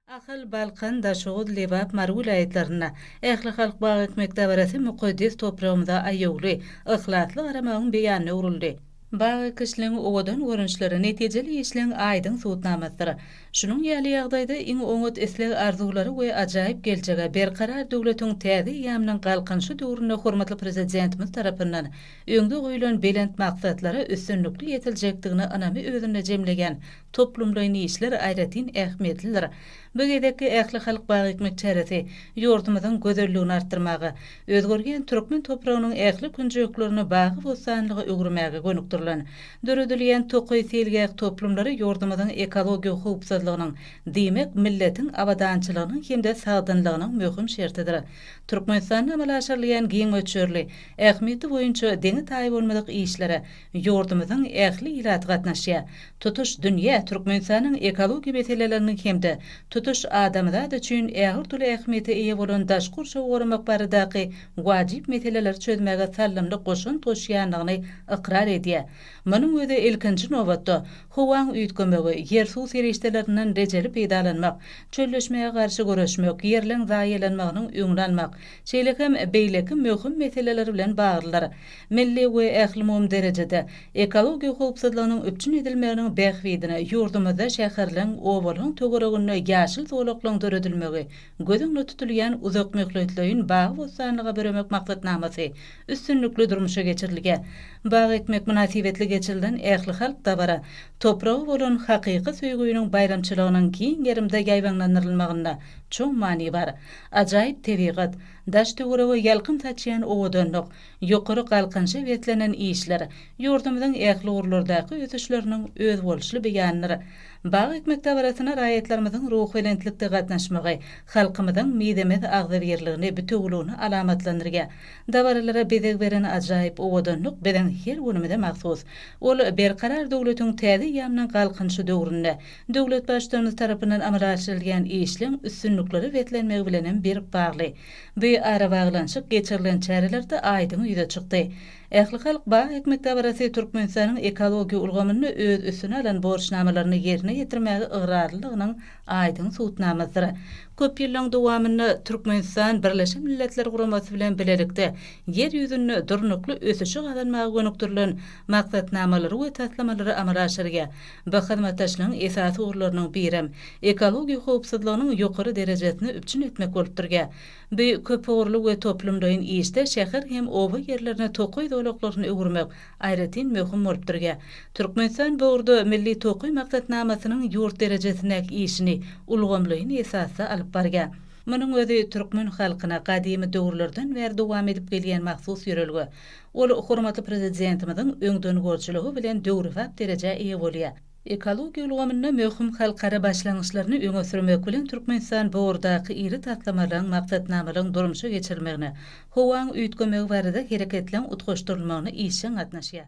Ahal, Balkan, Daşoguz, Lebap, Mary welaýatlarynda Ählihalk bag ekmek dabarasy mukaddes topragymyza aýawly, yhlasly garamagyň beýanyna öwrüldi. Bag ekişligiň owadan görnüşleri netijeli işleň aýdyň subutnamasydyr. Şunuň ýaly ýagdaýda iň oňat isleg-arzuwlary we ajaýyp geljege Berkarar döwletiň täze eýýamynyň Galkynyşy döwründe hormatly Prezidentimiz tarapyndan öňde goýlan belent maksatlara üstünlikli ýetiljekdigine ynamy özünde jemleýän Toplumlaýyn işler aýratyn ähmiýetlidir. Bu gezekki ählihalk bagyekmek çäresi ýurdumyzyň gözelligini artdyrmaga, özgerýän türkmen topragynyň ähli künjeklerini bagy-bossanlyga öwürmäge gönükdirilen. Döredilýän tokaý seýilgäh toplumlary ýurdumyzyň ekologiýa howpsuzlygynyň, diýmek, milletiň abadançylygynyň hem-de sagdynlygynyň möhüm şertidir. Türkmenistanda amala aşyrylýan giň möçberli, ähmiýeti boýunça deňi-taýy bolmadyk işlere Ýurdumyzyň ähli ilaty gatnaşýar. Tutuş dünýä Türkmenistanyň ekologiýa meseleleriniň hem-de tutuş adamzat üçin ägirt-uly ähmiýete eýe bolan daşky gurşawy goramak baradaky wajyp meseleleri çözmäge saldamly goşant goşýandygyny ykrar edýär. Munuň özi, ilkinji nobatda, howaň üýtgemegi, ýer-suw serişdelerinden rejeli peýdalanmak, çölleşmä garşy göreşmek, ýerleň zaýalanmagynyň öňüni almak, şeýle hem beýleki möhüm meseleler bilen baglydyr. Milli we ählumumy derejede ekologiýa howpsuzlygynyň üpjün edilmeginiň bähbidine ýurdumyzda şäherleň, obalaryň töwereginde ýaşyl zolaklaryň döredilmegi göz öňünde tutulýan uzakmöhletleýin bagy-bossanlyga büremek maksatnamasy üstünlikli durmuşa geçirilýär. Bag ekmek mynasybetli geçirilen ählihalk dabara topraga bolan hakyky söýgüniň baýramçylygynyň giň gerimde ýaýbaňlandyrylmagynda çuň many bar. Ajaýyp tebigat, daş-töwerege ýalkym saçýan owadanlyk, Ýokary galkynyşa beslenen işler ýurdumyzyň ähli ugurlardaky ösüşleriniň özboluşly beýanydyr. Bag ekmek dabarasyna raýatlarymyzyň ruhubelentlikde gatnaşmagy halkymyzyň mizemez agzybirligini, bitewüligini alamatlandyrýar. Dabaralara bezeg beren ajaýyp owadanlyk biziň her günümize mahsus. Ol Berkarar döwletiň täze eýýamynyň Galkynyşy döwründe döwlet Baştutanymyz tarapyndan amala aşyrylýan işleň üstünliklere beslenmegi bilenem berk bagly. Dy arabaglanyşyk geçirilen çärelerde aýdyň ýüze çykdy. Ählihalk bag ekmek dabarasy Türkmenistanyň ekologiýa ulgamynda öz üstüne alan borçnamalaryny ýerine ýetirmäge ygrarlylygynyň aýdyň subutnamasydyr. Köp ýyllaryň dowamynda Türkmenistan Birleşen Milletler Guramasy bilen bilelikde Ýer ýüzünde durnukly ösüşi gazanmaga gönükdirilen maksatnamalary we taslamalary amala aşyrýar Bu hyzmatdaşlygyň esasy ugurlarynyň birem, ekologiýa howpsuzlygynyň ýokary derejesini üpjün etmek bolup durýar. Bu köpugurly we toplumlaýyn işde şäher hem oba ýerlerini tokaý zolaklaryna öwürmek aýratyn möhüm bolup durýar. Türkmenistan bu ugurda Milli tokaý maksatnamasynyň ýurt derejesindäki işini ulgamlaýyn esasda alyp barýar. Munuň özi türkmen halkyna gadymy döwürlerden bäri dowam edip gelýän mahsus ýörelge, Ol hormatly Prezidentimiziň öňdengörüjiligi bilen döwrebap derejä eýe bolýar. Ekologiýa ulgamynda möhüm halkara başlangyçlaryny öňe sürmek bilen Türkmenistan bu ugurdaky iri taslamalaryň, maksatnamalaryň durmuşa geçirilmegine, howaň üýtgemegi barada hereketleň utgaşdyrylmagyna işjeň gatnaşýar.